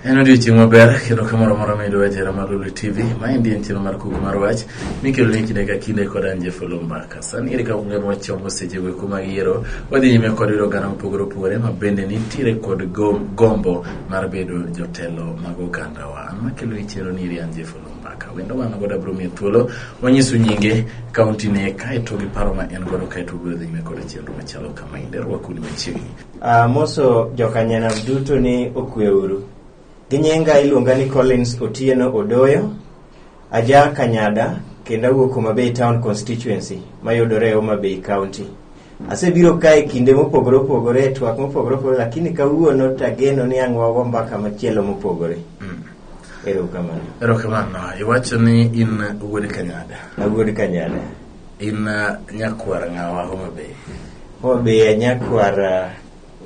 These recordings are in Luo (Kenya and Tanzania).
En odiochieng' maber kendo kamoro amora ma idwa jera mar Lulu TV. Maendi en chenro mar Kuku mar Wach mikelo ni kinde ka kinde kod an Jeff Lumbaka. Sani ere ka ung'eyo wach chomo sechego eko mag yiero, wadhi nyime kod yudo oganda mopogore opogore ma bende nitiere kod gombo mar bedo jotelo mag ogandawa. An makelo ni chenro ni eri an Jeff mbaka wendo wan godo abiro miye thuolo wanyisu nyinge kaunti ne kaeto gi paro ma en godo kaeto obiro dhi nyime koda chenro machalo kama inde rwakuni machiegni Ah, moso jokanyanam duto ni okweuru gi nyinga iluonga ni collins otieno odoyo aja kanyada kendo awuok homabay town constituency mayudore e homabay county Asebiro ka e kinde mopogore opogore, e twak mopogore opogore, lakini kawuono to ageno ni ang' wago mbaka machielo mopogore. Mm. Erokamano. Erokamano. Iwacho ni in wuod Kanyada. Awuod Kanyada. In uh, nyakwar ng'awa Homa Bay. Homa Bay nyakwar uh,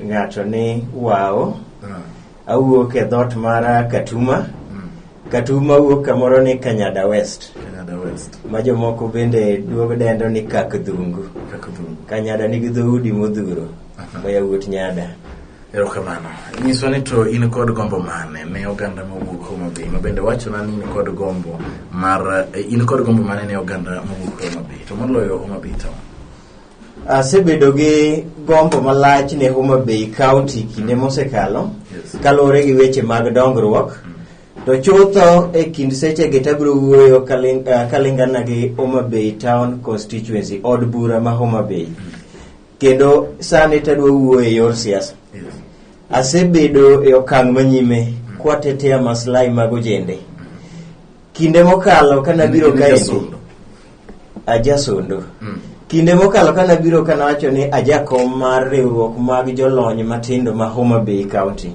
ng'ato ni Wao. Uh. awuok e dhot mara katuma katuma wuok kamoro ni kanyada west Kanyada West. ma jomoko bende duogo dendo ni kak dhungu Kakudhungu. kanyada nigi dhoudi modhuro ma yawuot nyada Erokamano. Nyiswa ni to in kod gombo mane ne oganda mowuok Homa Bay ma bende wachona ni in kod gombo mar eh, in kod gombo mane ne oganda mowuok Homa Bay to moloyo Homa Bay town. Asebedo gi gombo malach ne Homa Bay County kinde mosekalo Yes. kaluwore gi weche mag dongruok to chutho e kind sechegi tabiro wuoyo kaling- ah, kalingana gi Homa Bay Town Constituency od bura ma Homa Bay kendo sani tadwa wuoyo e yor siasa Yes. asebedo e okang' manyime kwatetea maslahi mag ojende kinde mokalo ka nabiro Nigi kaendi jasondo. ajasondo Mm. kinde mokalo ka nabiro ka nawacho ni ajakom mar riwruok mag jolony matindo ma homa bay county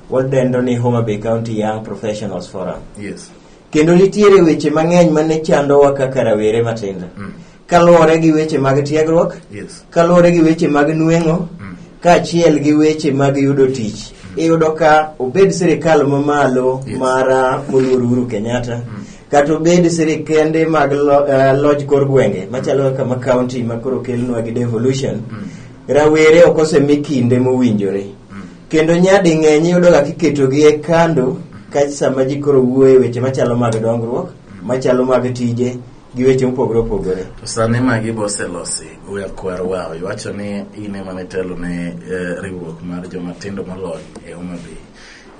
wadendo ni homa bay county young professionals forum yes kendo nitiere weche mang'eny mane chandowa kaka rawere matindo Mm. kaluwore gi weche mag tiegruok Yes. kaluwore gi weche mag nueng'o Mm. kaachiel gi weche mag yudo tich iyudo ka obed sirikal mamalo Yes. mar ah, moluor Uhuru Kenyatta Mm. kata obed sirikende mag lo- eh, loj kor gwenge machalo kaka ma county ma koro kelnwa gi devolution Mm. rawere ok osemi kinde mowinjore Mm. kendo nyadi ng'eny iyudoga kiketogi e kando ka sama ji koro wuoye weche machalo mag dongruok machalo mag tije gi weche mopogore opogore. To sani magi boselosi goya kwar wao iwacho ni in ema nitelo ne eh, riwruok mar joma tindo molony e Homa Bay.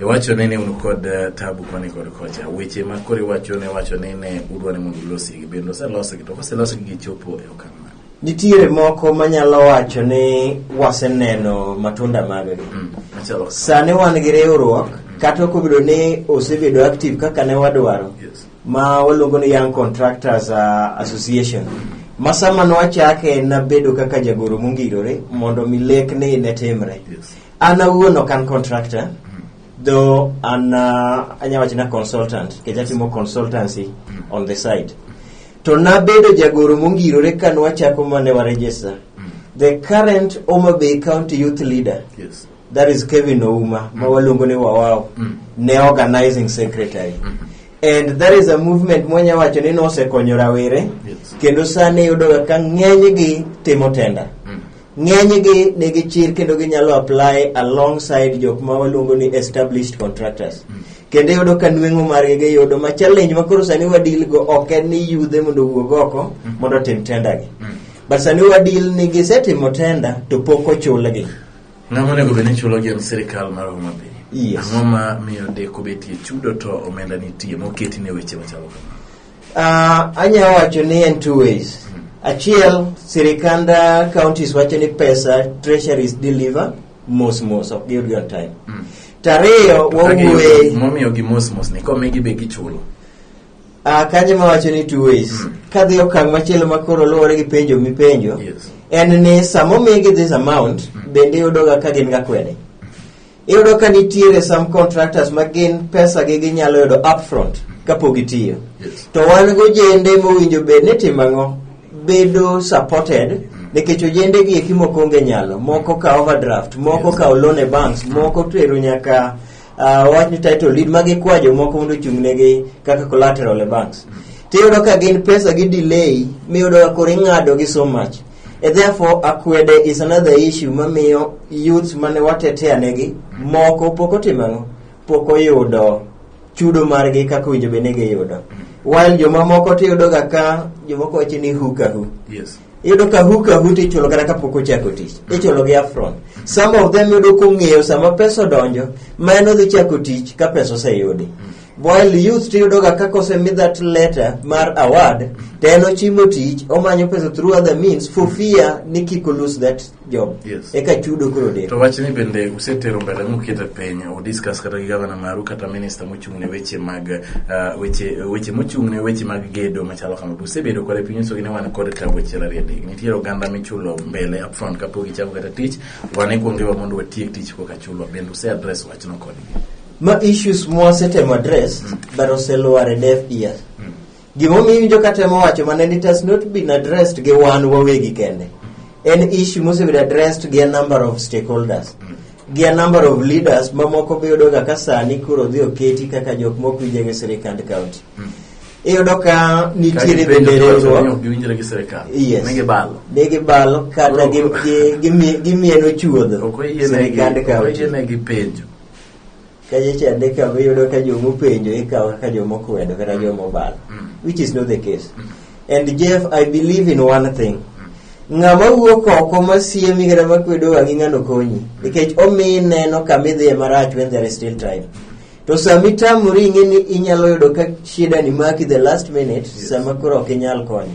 Iwacho ni ne un kod eh, tabu koni kod kocha. Weche ma koro iwacho ne iwacho ni ne udwa ni mondo ulosi gi bende oselosgi to koselosgi gichopo e okang' mane? Nitiere moko manyalo wacho ni waseneno matunda maggi. Mm, Machalo kaka- Sani wan gi riwruok kata ok obedo ni osebedo active kaka ne wadwaro. Yes. ma waluongo ni Young Contractors uh, Association ma sama nwachake nabedo kaka jagoro mongirore mondo mi lekni ne timre an awuon ok an contractor though an uh, anya wacho na consultant nikech atimo consultancy on the side to nabedo jagoro mongirore ka nwachako mane waregister the current Homa Bay County Youth Leader Yes. that is Kevin Ouma, mm. Mawaluongo ni Wawao, mm. ne organizing secretary. Mm -hmm. And that is a movement mwanya wacho ni nosekonyo rawere yes. kendo sani yudoga ka ng'enygi timo tenda mm. ng'enygi nigi chir kendo ginyalo apply alongside jok ma waluongo ni established contractors mm. kendo yudo ka nweng'o margi giyudo ma challenge ma koro sani wadil go ok en ni yudhe mondo owuog oko mm. mondo otim tendagi mm. but sani wadil ni gisetimo tenda to pok ochulgi Ng'ama onego bed ni chulogi en sirkal mar Homa Bay. Yes. Ang'o ma miyo deko betie chudo to omenda nitie moketi ne weche machalo kama? Uh, anyalo wacho ni en two ways. Achiel, sirikand uh, counties wacho ni pesa treasuries deliver mos mos, ok giyudgi on time. Mm. Tariyo, To ka giyudo- wawuoye Momiyo gi mos mos ni komigi be gichulo. Ah, kanyo ma wacho ni two ways Mm. kadhi okang' machielo ma koro luwore gi penjo mipenjo Yes. en ni sama omigi this amount Mm. bende iyudoga ka gin ga kwede iyudo ka nitiere some contractors ma gin pesa gi ginyalo yudo upfront kapok gitiyo Yes. to wan gojende mowinjo bed ni timo ang'o bedo supported nikech ojende gi eki moko onge nyalo moko ka overdraft moko Yes. ka loan e banks moko tero nyaka uh, wach ni title deed ma gikwa jomoko mondo ochung'negi kaka collateral e banks tiyudo ka gin pesa gi delay miyudo ka koro ing'ado gi so much e therefore akwede is another issue mamiyo youths mane watetea negi moko pok otimo ang'o pok oyudo chudo margi kaka winjo bende giyudo while jomamoko tiyudoga ka jomoko wacho ni hukahu yes iyudo ka hook a hoot ichulo kata kapok ochako tich ichulo gi afron some of them yudo kong'eyo sama pesa odonjo ma en odhi chako tich ka pesa oseyudi while youth tiyudo ga kaka osemi that letter mar award to en ochimo tich omanyo pesa through other means for fear ni kik o lose that job Yes. eka chudo koro deko to wachni bende usetero mbele mukete piny udiskas kata gi gavana maru kata minista mochung' ne weche mag ah, weche weche mochung' ne weche mag gedo machalo kama be usebedo kode piny usogi ni wan kod tabu achiel ariyo adek nitiere oganda michulo mbele upfront kapok gichako kata tich wan ikwongewa mondo watiek tich koka chulwa bende use address wachno kodgi ma issues mwasetemo address but oselwar e deaf ears Gimomiyo iwinjo ka temo wacho mana ni it has not been addressed gi wan wawegi kende. En issue mosebedo addressed gi a number of stakeholders. Gi a number of leaders mamoko be yudo ga ka sani koro dhi oketi kaka jok mok winje gi sirikand county. Iyudo ka nitiere bende riwruok giwinjre gi sirikal Yes. ne gibalo ne gibalo kata gi- gi- gimi- gimieno chuodho ok oyiene gi- sirikand ok county. oyiene gi penjo kaye cha ne ka iyudo ka joma openjo ikawo kaka joma okwedo kata joma obalo which is not the case and jeff i believe in one thing ng'ama wuok oko masiemi kata makwedo wang'i ng'ano konyi nikech omiyi neno kama idhiye marach when there is still time to sama itamori ing'e ni inyalo yudo ka shida ni maki the last minute sama koro ok inyal konyo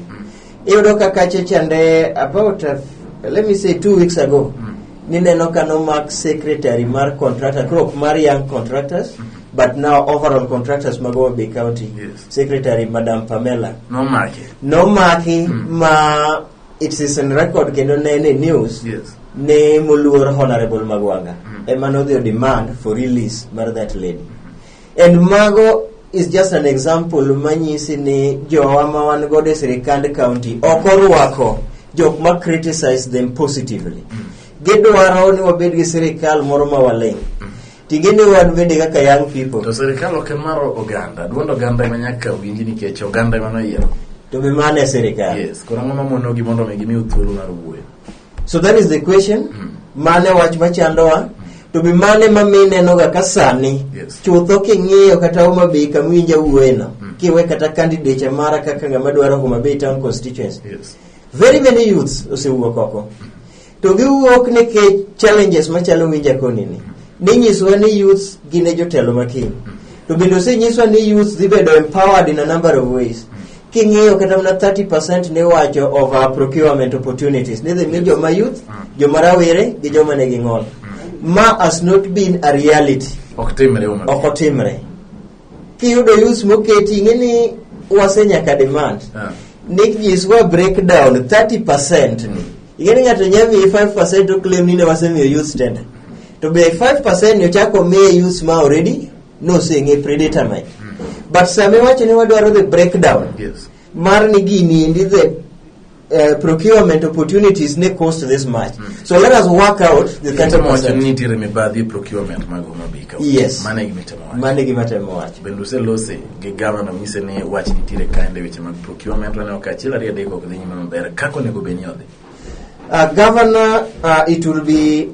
iyudo ka kache chande about a, let me say two weeks ago Mm. nineno ka nomak secretary mar contractor crop mar young contractors but now overall contractors mag Homa Bay county Yes. secretary madam pamela nomake nomaki Mm. ma it is in record kendo ne en e news yes ne moluor honorable magwanga Mm. ema nodhi o demand for release mar that lady And mago is just an example manyisi ni jowa ma wan godo e sirikand county ok orwako jok ma criticize them positively gidwaro ni wabed gi sirikal moro ma waling tingende wan bende kaka young people to sirikal ok mar oganda duond oganda ema nyaka winji nikech oganda ema noyiero to be mano e sirikal yes koro ang'o mamonogi mondo mi gimiu thuolo mar wuoyo so that is the question Mm. mane wach machandowa to be mane ma mi nenoga ka sani Yes. chutho king'iyo kata Homa Bay kama iwinja wuoyeno Mm. kiwe kata candidate mara kaka ng'ama dwaro Homa Bay town constituency Yes. very many youths osewuok oko to giwuok nikech challenges machalo winja konini ninyisowa ni youths gin e jotelo makiny to bende osenyiswa ni youths dhi bedo empowered in a number of ways king'iyo kata mana 30% niwacho of uh, procurement opportunities nidhi mi joma youth joma rawere gi joma nigi ng'ol ma has not been a reality ok timre uma ok otimre kiyudo youth moketi ing'e ni wase nyaka demand Ah. nick jiswa breakdown 30% ing'e ni ng'ato nya miyi 5% to claim ni ne wasemiyo youth tender to be 5% ni ochako miye youth ma already noseng'e predetermine but sama iwacho ni wadwaro the breakdown Yes. mar ni gini endi the uh, procurement opportunities ne cost this much so let us work out the Kitemo wacho ni 30 nitiere mibadhi e procurement mag Homa Bay County. Yes. Mano e gima itemo wacho. mane gima temo wacho Bende uselose gi gavana onyise ni wach nitiere kaende e weche mag procurement waneno ka achiel ariyo adek ok dhi nyime maber. Kaka onego bed ni odhi. uh, governor uh, it will be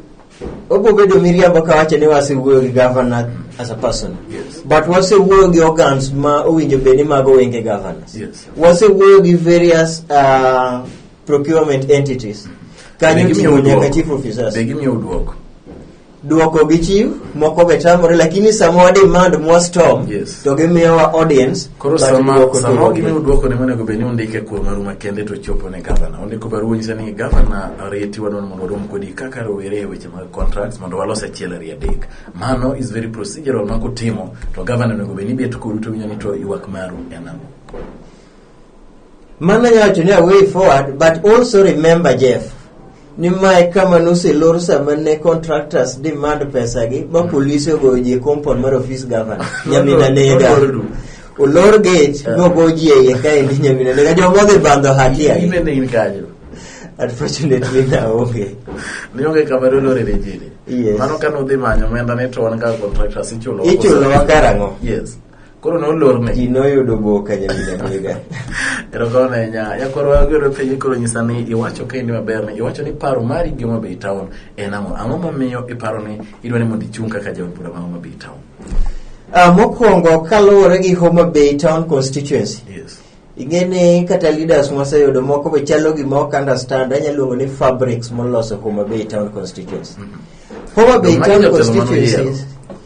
Obo bedo miriambo ka wacho ni wasewuoyo gi governor as a person. Yes. But wasewuoyo gi organs ma owinjo bed ni mago wenge governors. Yes. Wasewuoyo gi various uh, procurement entities. Kanyo Be gimiyo ting'o nyaka dwoko. chief officers. Be gimiyo dwoko. Dwoko gi chief, moko be tamore lakini sama wademand mwa storm Yes. to gimiyowa audience Koro Bang' sama duoko sama dwoko gimiyo gi- dwoko ne monego bed ni undike kuo maru makende to chopo ne gavana. Undiko barua nyisa ni gavana arieti wadwa ni mondo warom kodi kaka rowere e weche mag contracts mondo walos achiel ari adek. Mano is very procedural ma kutimo to gavana onego bed ni bet kodu to winjo ni to ywak maru en ang'o. Mano nyacho ni a way forward but also remember Jeff ni mae kama noselor sama ne contractors demand pesagi ma mm. polise ogoyo ji e compound mar office governor nyamina nega olor gate eh. nogo ji e iye kaendi nyamina nega joma odhi bandho hatia unfortunately naonge nionge kama dolore ne jini yes. mano ka nudhi manyo omenda ni to wan kaka contractors ichulo ichulowa karang'o yes koro nolorne ji noyudo boka nyaminamiga erokamano ahinya nyakoro wagero penjo koro nyisa ni iwacho kendi maber ni iwacho ni paro mari gi Homa Bay Town en ang'o ang'o momiyo iparo ni idwa ni mondo ichung' kaka jaod bura ma Homa Bay Town Ah, mokwongo kaluwore gi Homa Bay Town constituency yes ing'eni kata leaders mwaseyudo moko be chalo gima ok understand anya luongo ni fabrics moloso Homa Bay town constituency Homa Bay Magi town jotelo mane oyiero. constituencies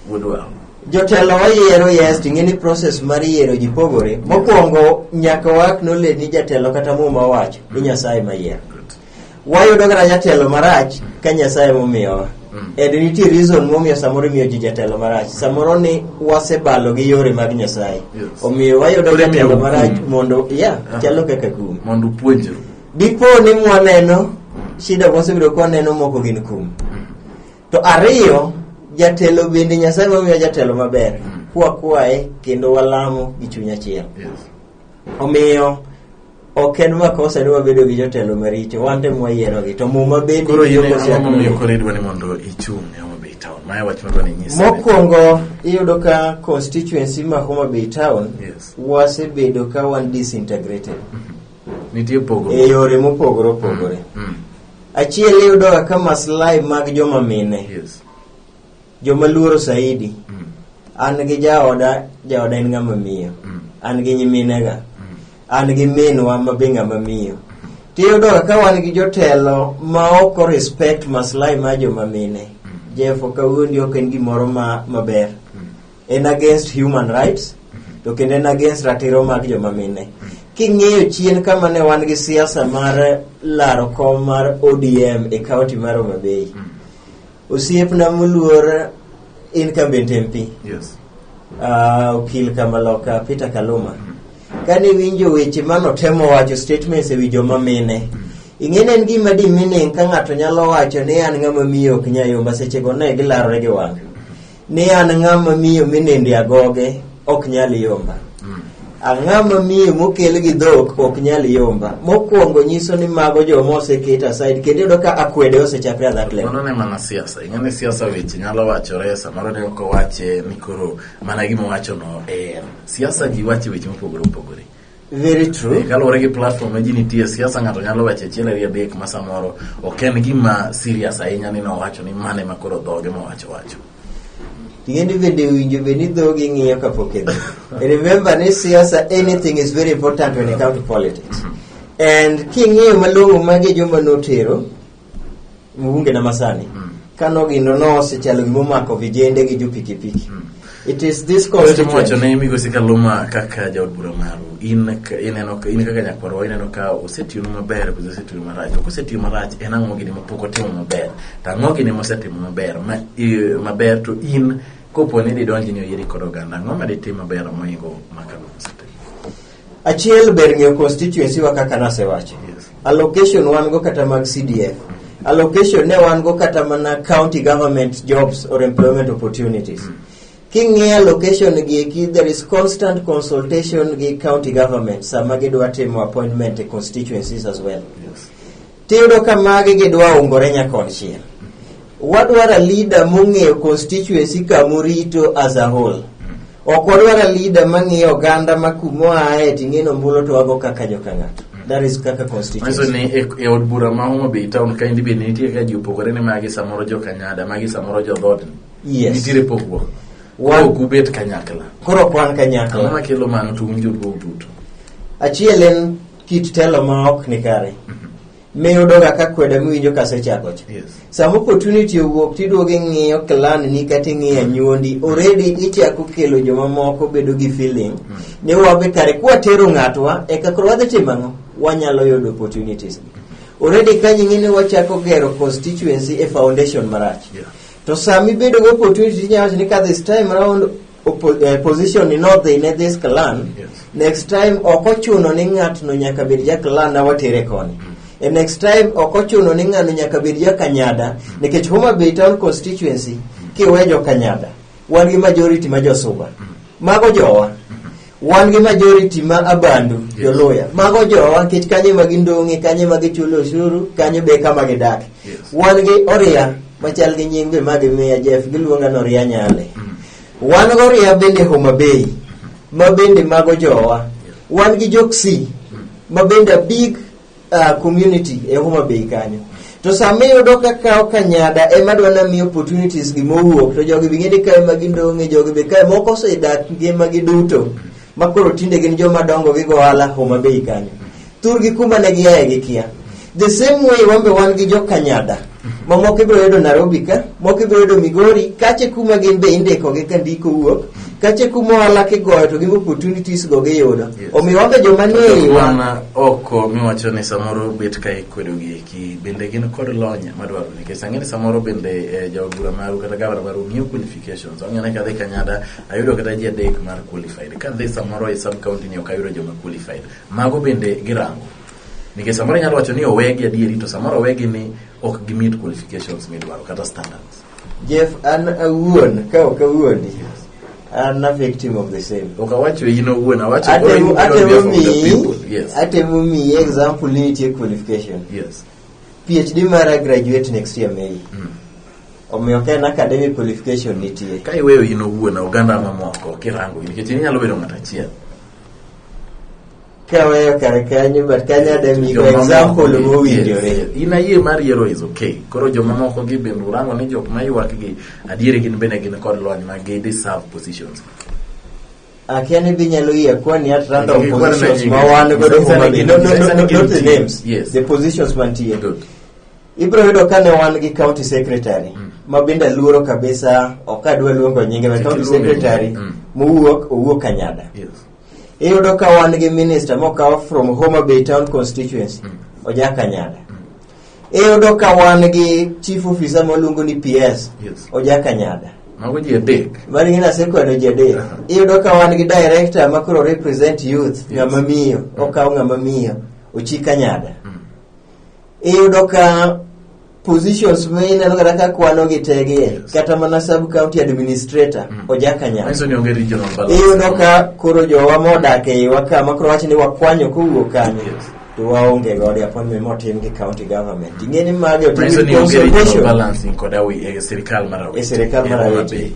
Wuod wang'. jotelo wayiero yes to ing'eni process mar yiero ji pogore mokwongo nyaka waknole ni jatelo kata muma wacho ni nyasaye mayiero wayudo kata jatelo marach ka nyasaye momiyowa Mm. and nitie reason momiyo samoro imiyo ji jatelo marach samoro ni wasebalo gi yore mag nyasaye Yes. omiyo wayudo Koro imiyo jatelo marach kum. mondo ya Aha. chalo kaka kum mondo upuonjru dipo ni mwaneno shida mwasebiro kwaneno moko gin kum to ariyo jatelo bende nyasaye mamiyo jatelo maber Mm. kwa kwaye kendo walamo gi chuny achiel yes omiyo ok en makosa ni wabedo gi jotelo maricho wan te mwayierogi to muma bende koro yie tiyo kosiak ang'o momiyo nolimo. koro idwa ni mondo ichung' e Homa Bay town maya wach madwa ni nyisa mokwongo iyudo ka constituency ma Homa Bay town Yes. wasebedo ka wan disintegrated nitie pogo e yore mopogore opogore Mm, achiel iyudo ka maslahi mag joma mine yes joma luoro saidi mm. an gi jaoda jaoda en ng'ama miyo mm. an gi nyiminega mm. an gi minwa ma be ng'ama miyo tiyudo ka wan gi jotelo ma ok respect maslahi ma joma mine jefo kawuondi ok en gimoro ma maber en against human rights to kendo en against ratiro mag joma mine king'eyo chien kama ne wan gi siasa mar laro kom mar odm e kaunti mar omabei mm. Osiepna moluor incumbent MP Yes. uh, okil Kamaloka Peter Kaluma kane winjo weche mano temo wacho statements ewi joma mine ing'eni en gima di meaning ka ng'ato nyalo wacho ni an ng'ama miyo ok nyayomba seche go ne gilarore gi wang' ni an ng'ama miyo minende agoge ok nyal yomba mm. ang'ama miyo mokel gi dhok ok nyal yomba mokwongo nyiso ni mago joma oseket aside kendo yudo ka akwede osechakre a that level ne mana siasa ing'eni siasa weche nyalo wachore samoro ne ok owache ni koro mana gima owachono en siasa ji wache weche mopogore opogore Very true. Kaluwore gi platform ma ji nitie siasa, ng'ato nyalo wacho achiel ariyo adek ma samoro ok en gima serious ahinya ni nowacho ni mane ma koro dhoge mowacho wacho. Tigendi bende winjo be ni dhogi ng'iyo kapok idhi. Remember ni siasa anything is very important when it comes to politics. And king'iyo malong'o magi joma notero Mugunge na Masani Mm. kano gino nosechalo gima omako vijende gi jopikipiki it is this Koro wacho constituent ne migosi Kaluma kaka jaod bura maru in ka- ineno ka- in kaka nyakwarwa ineno ka osetiyonu maber kose osetiyonu marach ok osetiyo marach en ang'o gini mapok otimo maber to ang'o gini mosetimo maber ma, i- maber to in kopo ni didonji ni oyieri kod oganda ang'o ma ditim maber moingo ma Kaluma osetimo Achiel ber ng'eyo constituency wa kaka nasewacho. Allocation wan go kata mag CDF. Allocation ne wan go kata mana county government jobs or employment opportunities. King'iyo allocation gi eki there is constant consultation gi county government sama gidwa timo appointment e constituencies as well. Tiyudo ka magi gidwa ungore nyakonchiel. Wadwaro a leader mong'eyo constituency kamorito as a whole. Ok wadwaro a leader mang'iyo oganda ma kumoaye ting'eno mbulo to wago kaka joka ng'ato. That is kaka Manyiso constituency. ni e- e od bura ma Homa Bay town ka endi be nitie ka ji opogore ni magi samoro jo Kanyada, magi samoro jo dhood. Yes. Nitiere pogruok. Wan- Ok ubet kanyakla. Koro kwan Ang'o kanyakla. makelo mano to un joluo duto? Achiel en kit telo ma ok ni kare miyo doga ka kweda miwinjo kasechako cha Yes. sama opportunity owuok tiduogo ing'iyo clan ni kata ing'iyo anyuondi already ichako kelo jomamoko bedo gi feeling ni wabe kare kwatero ng'atwa eka koro wadhi timo ang'o wanyalo yudo opportunities already kanyo ing'e ni wachako gero constituency e foundation marach Yeah. to sami bedo gi opportunity inyalo wacho ni ka this time round Oppo- eh, position ni nodhi in this clan Yes. next time ok ochuno ni ng'atno nyaka bed ja clan na watere koni e next time ok ochuno ni ng'ano nyaka bed ja kanyada nikech homa bay town constituency kiwe jo kanyada wan gi majority ma josuba mago jowa Wan gi majority ma abandu Yes. joluya mago jowa kech kanye ma gindong'e kanye ma gichulo osuru kanye be kama gidak Yes. wan gi oria machal gi nying be ma gimiya jef giluonga ni oria nyale Mm. wan gi oria bende homa bay ma bende mago jowa wan gi joksi ma bende a big uh, community e Homa Bay kanyo to sama iyudo ka kawo kanyada ema dwa na miyo opportunities gi mowuok to jogi bing'e ni kae ma gindong'e jogi be kae moko osedak ngimagi duto ma koro tinde gin joma dongo gi gohala Homa Bay kanyo thurgi kuma ne giaye gi kia the same way wambe wan gi jo kanyada ma moko ibiro yudo Nairobi ka moko ibiro yudo Migori kache kuma gin be indikogi ka ndiko wuok kache kuma ohala kigoyo to gin opportunities go giyudo Yes. omiyo wabe joma ni e iwa wana oko miwacho ni samoro bet ka ikwedo gi eki bende gin kod lony madwaro nikech ang'e ni samoro bende eh, jawagura maru kata gavana maru ng'iyo qualifications ang'e ni kadhi kanyada ayudo kata ji adek mar qualified kadhi samoro e sub county ni ok ayudo joma qualified mago bende girango Nikech samoro inyalo wacho ni owegi adieri to samoro owegi ni ok gi meet qualifications midwaro kata standards. Jeff, an awuon, ka ok awuondi, an a victim of the same. Ok awacho in owuon, awacho Atemo going beyond atemo behalf of the miyi, people. Yes. atemo miyi example ni nitie qualification. Yes. PhD mara graduate next year May. Mm. Omiyo ka en academic qualification nitie. Ka iweyo in owuon oganda mamoko kirango nikech inyalo bedo ng'at achiel. kaweyo kar kanyo but kanya de migo Jomamoko example gi- mowinjore yes. in ayie mar yiero is okay koro jomamoko gi bende urango ni jok maywak gi adieri gin bende gin kod lony ma gi deserve positions akia ni dhi nyalo yie kwani at random Gi- gi- positions gi- ma gi- wan gi- godo gi- Homa gi- Bay. No, no, gi- no, gi- no, gi- not the gi- names yes. the positions mantie good ibiro yudo ka ne wan gi county secretary Mm. ma bende luoro kabisa ok adwa luongo nyinge ma Kik county iluonge nyinge. secretary Mm. mowuok owuok kanyada yes iyudo ka wan gi minister mokaw from Homa Bay town constituency Ojaka Nyada iyudo ka wan gi chief officer moluongo ni PS Yes. Ojaka Nyada Mago ji adek. mani gin asekwano ji adek Aha. iyudo ka wan gi director ma koro represent youth Yes. ng'ama miyo okaw ng'ama miyo ochika nyada Mm. iyudo ka positions ma ineno kata ka kwano gi tege Yes. kata mana sub county administrator Mm. ojakanyal Manyiso ni onge regional balance. iyudo ka koro jowa modak eiwa ka ma koro wacho ni wakwanyo kowuok kanyo Yes. to waonge godo appointment motim gi county government ing'e ni magi otim Manyiso gi ni onge regional consultation balancing koda wi- e sirikal mar Awiti. E sirikal mar E Homa Awiti. Bay.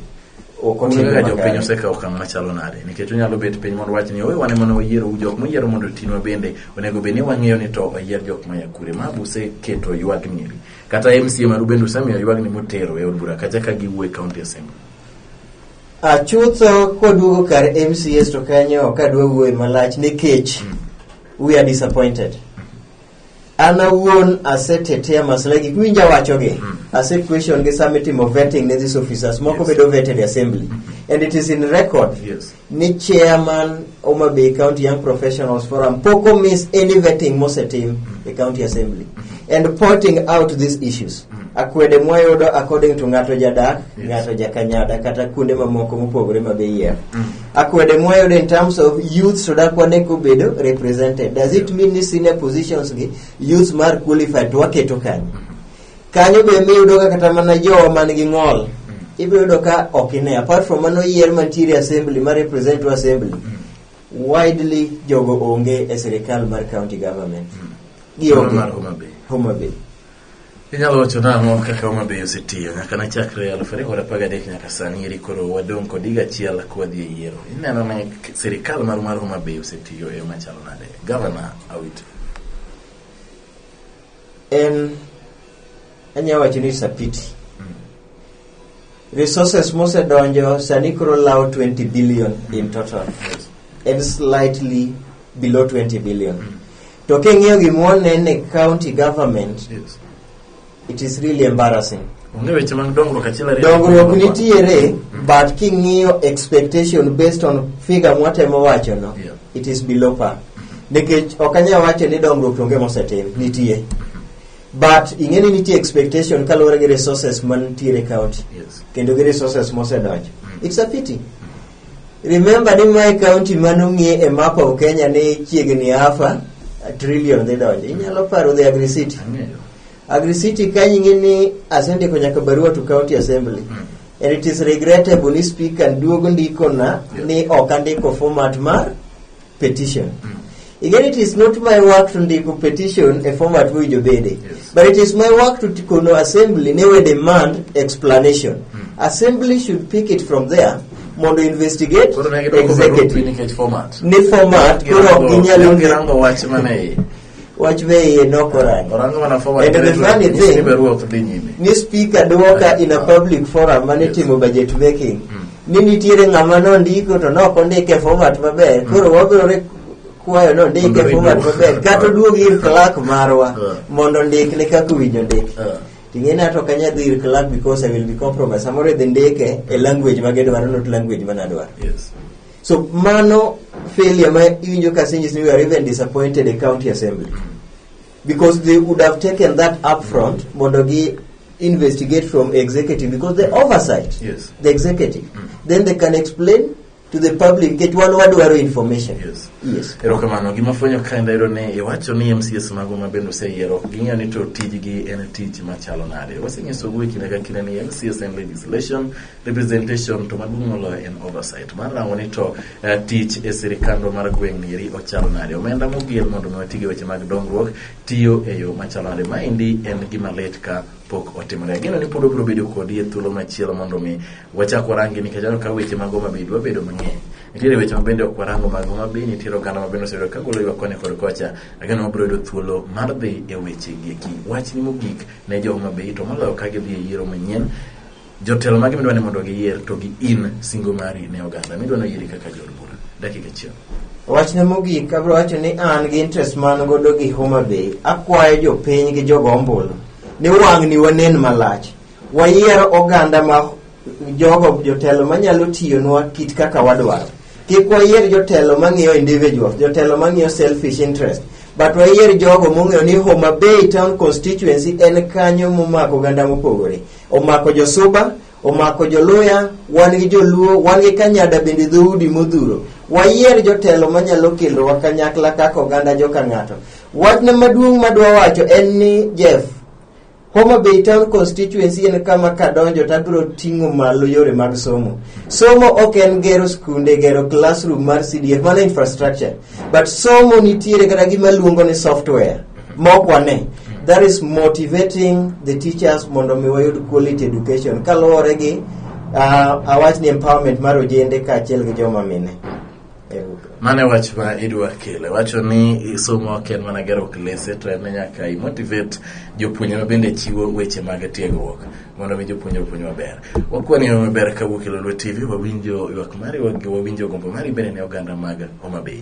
ok otimre Onge ga jopiny makare. osekawo okang' machalo nade nikech onyalo bet piny mondo wach ni owe wane mana wayiero u jok moyiero mondo otinwa bende onego bed ni wang'eyo ni to oyier jok maya kure ma useketo ywagni eri kata mca maru bende usemiyo ywagni motero e od bura kacha ka giwuo e county assembly Ah, chutho kwaduogo kar mcs to kanyo ok adwa wuoye malach nikech we are disappointed an awuon asetete masla gik miwinja wachogi mm. ase question gi sama itimo vetting ne these officers moko yes. bedo vetted assembly mm -hmm. and it is in record yes. ni chairman Homa Bay County Young Professionals Forum poko miss any vetting mosetim mm -hmm. e county assembly mm -hmm. and pointing out these issues mm -hmm. akwede mwayudo according to ng'ato jadak yes. ng'ato jakanyada kata kuonde mamoko mopogore mabe yier mm -hmm. akwede mwayudo in terms of youth to dak wane kobedo represented does it mean ni senior positions gi youth mar qualified to waketo kanyo kanyo be miyudo ka kata mana jowa man gi ng'ol ibiro yudo ka ok ine apart from mano yier mantiere assembly ma represent to assembly widely jogo onge e sirikal mar county government gionge Mar Homa Bay. Homa Bay. Inyalo wacho nang'o kaka Homa Bay osetiyo nyaka ne chakre aluf ariyo kod apar gadek nyaka sani eri koro wadong' kod higa achiel kwadhi e yiero. Ineno ni sirikal mar mar Homa Bay osetiyo e yo machalo nade? Gavana Awiti. En anyalo wacho ni it's a pity Resources mosedonjo sani koro lawo 20 billion in total. En slightly below 20 billion. To king'iyo gimwoneno e county government, Yes. it is really embarrassing. Onge weche mag dongruok achiel ariyo. dongruok nitiere but king'iyo expectation based on figure mwatemo wacho no Yeah. it is below par nikech ok anyal wacho ni dongruok onge mosetim nitie but ing'e ni nitie expectation kaluwore gi resources mantiere e county Yes. kendo gi resources mosedonjo Mm. it's a pity remember ni mae county manong'e e map of kenya ni chiegni afa a trillion dhi donjo inyalo paro the agri city Ang'eyo. agri city kanyo ing'e ni asendiko nyaka barua to county assembly Mm. and it is regrettable ni speaker duogo ndikona Yes. ni ok andiko format mar petition. Again, it is not my work to ndiko petition e format mowinjo bede, Yes. but it is my work to t- kono assembly ne we demand explanation. Assembly should pick it from there mondo investigate Koro ne gidwoko barupi executive nikech format. ne format koro ok ginyal Girango- Girango wach mane iye. wach be iye nokorangi Orango mana forward And the directly, funny nyisi ni thing- be ruoth dhi nyime. ni speaker dwoka in a public forum mane Yes. timo budget making Mm. ni nitiere ng'ama nondiko to ne ok ondike e format maber koro wabiro re- kwayo ni ondike Mondo e format riduok. maber kata oduog ir clerk marwa Yeah. mondo ondikne kaka owinjo ndik Yeah. ting'e ni ato kanya dhi ir clerk because I will be compromised samoro idhi ndike e language ma gidwaro not language ma nadwaro Yes. So mano failure ma iwinjo ka senyis ni we are even disappointed in county assembly. Because they would have taken that up front mondo gi investigate from executive because the oversight Yes. the executive. Then they can explain to the public get one wadwaro information. Yes. Yes. erokamano gima fwenyo ka en dayudo ni iwacho ni mcs mago ma bende oseyiero ok ging'eyo ni to tijgi en tich machalo nade wasenyiso gi kinde ka kinde ni mcs en legislation representation to maduong' moloyo en oversight mar rango ni to eh, tich e sirikandwa mar gweng' nieri ochalo nade omenda moger mondo mi wati gi weche mag dongruok tiyo e yo machalo nade maendi en gima lit ka pok otimore ageno ni pod obiro bedo kodi e thuolo machielo mondo mi wachak warangi nikech aneno ka weche mag Homa Bay dwa bedo mang'eny nitiere weche ma bende ok warango mag Homa Bay nitiere oganda ma bende osebedo ka golo ywak koni kod kocha ageno wabiro yudo thuolo mar dhi e weche gi eki wachni mogik ne jo Homa Bay to moloyo ka gidhi e yiero manyien Jotelo mage midwa ni mondo giyier to gi in singo mari ne oganda midwa ni oyieri kaka jood bura? Dakika achiel. Wachne mogik abiro wacho ni an gi interest man godo gi Homa Bay, akwayo jopiny gi jogo ombulu ni wang'ni wanen malach, wayier oganda ma jogo jotelo manyalo tiyonwa kit kaka wadwaro. Kik wayier jotelo mang'iyo individuals, jotelo mang'iyo selfish interest, but wayier jogo mong'eyo ni Homa Bay town constituency en kanyo momako oganda mopogore. Omako josuba, omako joluya, wan gi joluo, wan gi kanyada bende dhoudi modhuro. Wayier jotelo manyalo kelowa kanyakla kaka oganda joka ng'ato. Wachna maduong' madwa wacho en ni Jeff, Homa Bay Town Constituency en kama kadonjo to abiro ting'o malo yore mag somo. Somo ok en gero skunde, gero classroom mar CDF, mano infrastructure. But somo nitiere kata gima luongo ni software. mok wane that is motivating the teachers mondo mi wayud quality education kaluwore gi uh, awach ni empowerment mar ojende kaachiel gi joma mine Ero- mane wach ma idwa kele wacho ni somo ok en mana gero klese to en nyaka imotivate jopuonjre ma bende chiwo weche mag tiegruok mondo mi jopuonjre opuonj maber wakwani yo maber kawuok e lolwe tv wawinjo ywak mari wawinjo gombo mari bende ne oganda mag homa bay